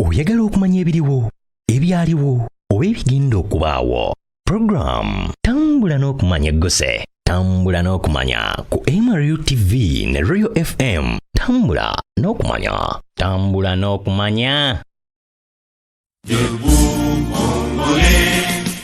oyagala okumanya ebiriwo ebyaliwo oba ebigenda okubaawo puroguramu tambula n'okumanya egguse tambula n'okumanya ku mru tv ne royal fm tambula n'okumanya tambula n'okumanya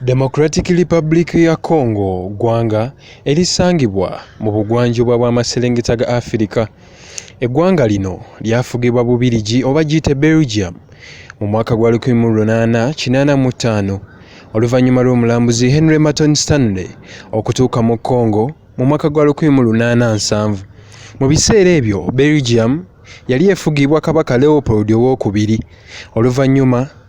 Democratic Republic ya Congo ggwanga erisangibwa mu bugwanjuba bw'amaserengeta ga Afirika. Eggwanga lino lyafugibwa Bubirigi oba giyite Belgium mu mwaka gwa 1885 oluvannyuma lw'omulambuzi Henry Merton Stanley okutuuka mu Congo mu mwaka gwa 1870. Mu biseera ebyo Belgium yali efugibwa Kabaka Leopold ow'okubiri. Oluvannyuma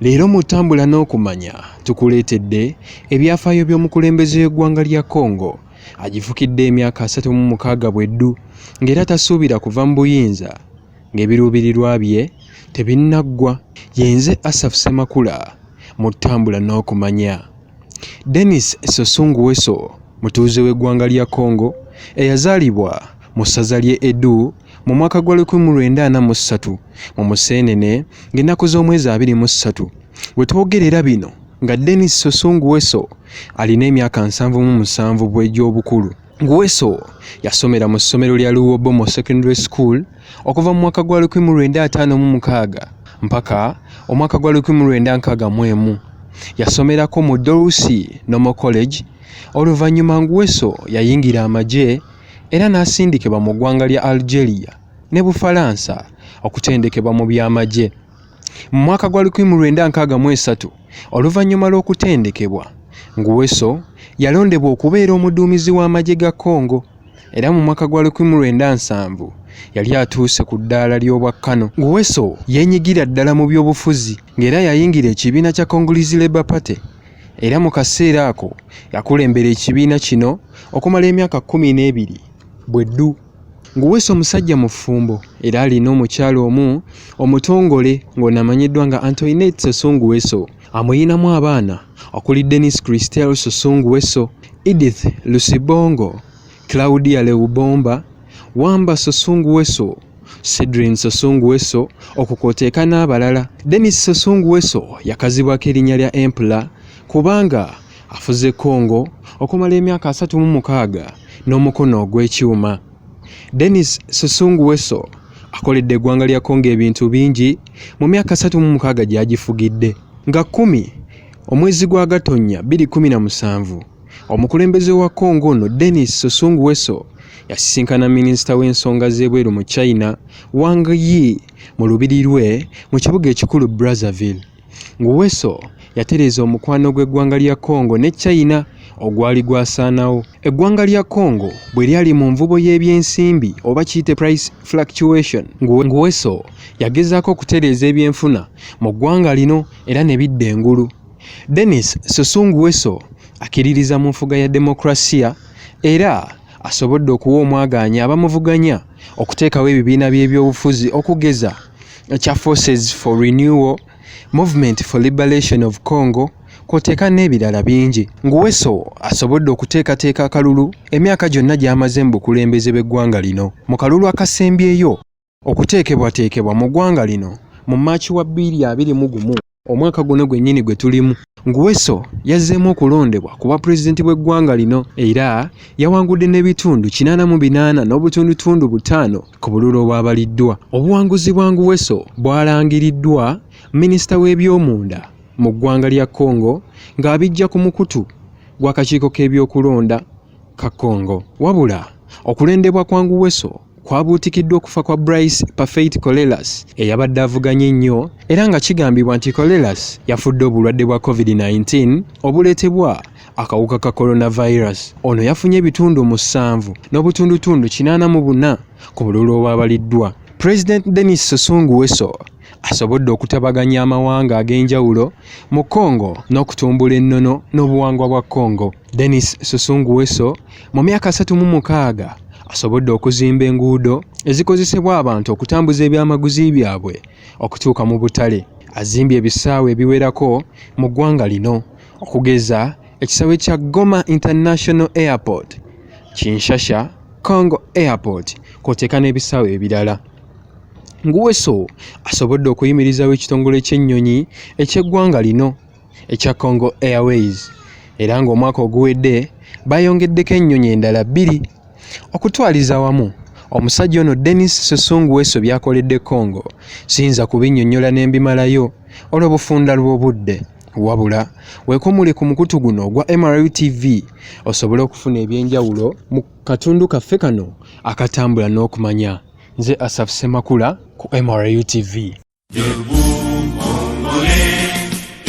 Leero mu tambula n'okumanya tukuleetedde ebyafaayo by'omukulembeze w'eggwanga lya Congo agifukidde emyaka asatu mu mukaaga bweddu ng'era tasuubira kuva mu buyinza ng'ebiruubirirwa bye tebinnaggwa yenze Asaf Semakula mu tambula n'okumanya Denis Sosunguweso mutuuze w'eggwanga lya Congo eyazaalibwa mu ssaza ly'e Edu mu mwaka gwa 1943 mu Museenene ng'ennaku z'omwezi 23 we twogerera bino nga Dennis Soso Nguweso alina emyaka nsanvu mu musanvu bw'egy'obukulu. Nguweso yasomera mu ssomero lya Luwobomo Secondary School okuva mu mwaka gwa 1956 mpaka omwaka gwa 1961. Yasomerako mu Dorusi Normal College, oluvannyuma Nguweso yayingira amagye era n'asindikibwa mu ggwanga lya Algeria ne Bufalansa okutendekebwa mu by'amagye. Mu mwaka gwa 1963, oluvannyuma lw'okutendekebwa, Nguesso yalondebwa okubeera omuduumizi w'amagye ga Congo, era mu mwaka gwa 1970 yali atuuse ku ddaala ly'obwa Kano. Nguesso yeenyigira ddala mu by'obufuzi ng'era yayingira ekibiina kya Congolese Labour Party era mu kaseera ako yakulembera ekibiina kino okumala emyaka kkumi n'ebiri bwe ddu ng'uweesa omusajja mufumbo era alina omukyala omu omutongole ng'onamanyiddwa nga antoinet sosunguweso amuyinamu abaana okuli denis christel sosunguweso edith lusibongo Claudia Leubomba, Wamba Sosungu Weso, Cedrin Sosungu Weso okukwoteeka n'abalala. Denis Sosungu Weso yakazibwako erinnya lya Empla kubanga afuze Congo okumala emyaka asatu mu mukaaga n'omukono ogw'ekyuma. Denis Sosungu Weso akoledde eggwanga lya Congo ebintu bingi mu myaka asatu mu mukaaga gy'agifugidde nga kkumi omwezi gwa Gatonnya bbiri kkumi na musanvu Omukulembeze wa Congo ono Denis Sassou Nguesso yasisinkana minisita w'ensonga z'ebweru mu China Wang Yi mu lubiri lwe mu kibuga ekikulu Brazzaville. Nguweso yatereeza omukwano gw'eggwanga lya Congo ne China ogwali gwasaanawo. Eggwanga lya Congo bwe lyali mu nvubo y'ebyensimbi oba kiyite price fluctuation, Nguweso yagezaako okutereeza ebyenfuna mu ggwanga lino era ne bidda engulu. Denis Susungu Weso akiririza mu nfuga ya demokrasiya era asobodde okuwa omwagaanya abamuvuganya okuteekawo ebibiina by'ebyobufuzi okugeza ekya Forces for Renewal, Movement for Liberation of Congo kwoteeka n'ebirala bingi. Nguweso asobodde okuteekateeka akalulu emyaka gyonna gy'amaze mu bukulembeze bw'eggwanga lino mu kalulu akasembyeyo. okuteekebwateekebwa mu ggwanga lino mu March wa bbiri abiri mu gumu omwaka guno gwennyini gwe tulimu. Nguesso yazzeemu okulondebwa ku bwapulezidenti bw'eggwanga lino era yawangudde n'ebitundu kinaana mu binaana n'obutundutundu butaano ku bululu obwabaliddwa. Obuwanguzi bwa Nguesso bwalangiriddwa minisita w'ebyomunda mu ggwanga lya Congo ng'abijja ku mukutu gw'akakiiko k'ebyokulonda ka Congo. Wabula okulondebwa kwa Nguesso kwabuutikiddwa okufa kwa Bryce Parfait Colelas eyabadde avuganya ennyo era nga kigambibwa nti Colelas yafudde obulwadde bwa COVID-19 obuleetebwa akawuka ka coronavirus. Ono yafunye ebitundu musanvu n'obutundutundu kinaana mu buna ku bululu obwabaliddwa. President Denis Sassou Nguesso asobodde okutabaganya amawanga ag'enjawulo mu Congo n'okutumbula ennono n'obuwangwa bwa Congo. Denis Susungu Weso mu myaka asatu mu mukaaga asobodde okuzimba enguudo ezikozesebwa abantu okutambuza ebyamaguzi byabwe okutuuka mu butale. Azimbye ebisaawe ebiwerako mu ggwanga lino okugeza ekisaawe kya Goma International Airport, Kinshasa Congo Airport kw'oteeka n'ebisaawe ebirala. Nguweso asobodde okuyimirizawo ekitongole ky'ennyonyi eky'eggwanga lino ekya Congo Airways era ng'omwaka oguwedde bayongeddeko ennyonyi endala bbiri okutwaliza wamu omusajja ono Denis Susungu Weso byakoledde Congo siyinza kubinnyonnyola ne mbimalayo olw'obufunda lw'obudde wabula weekomule ku mukutu guno ogwa MRU TV osobole okufuna eby'enjawulo mu katundu kaffe kano akatambula n'okumanya nze Asaf Semakula ku MRU TV.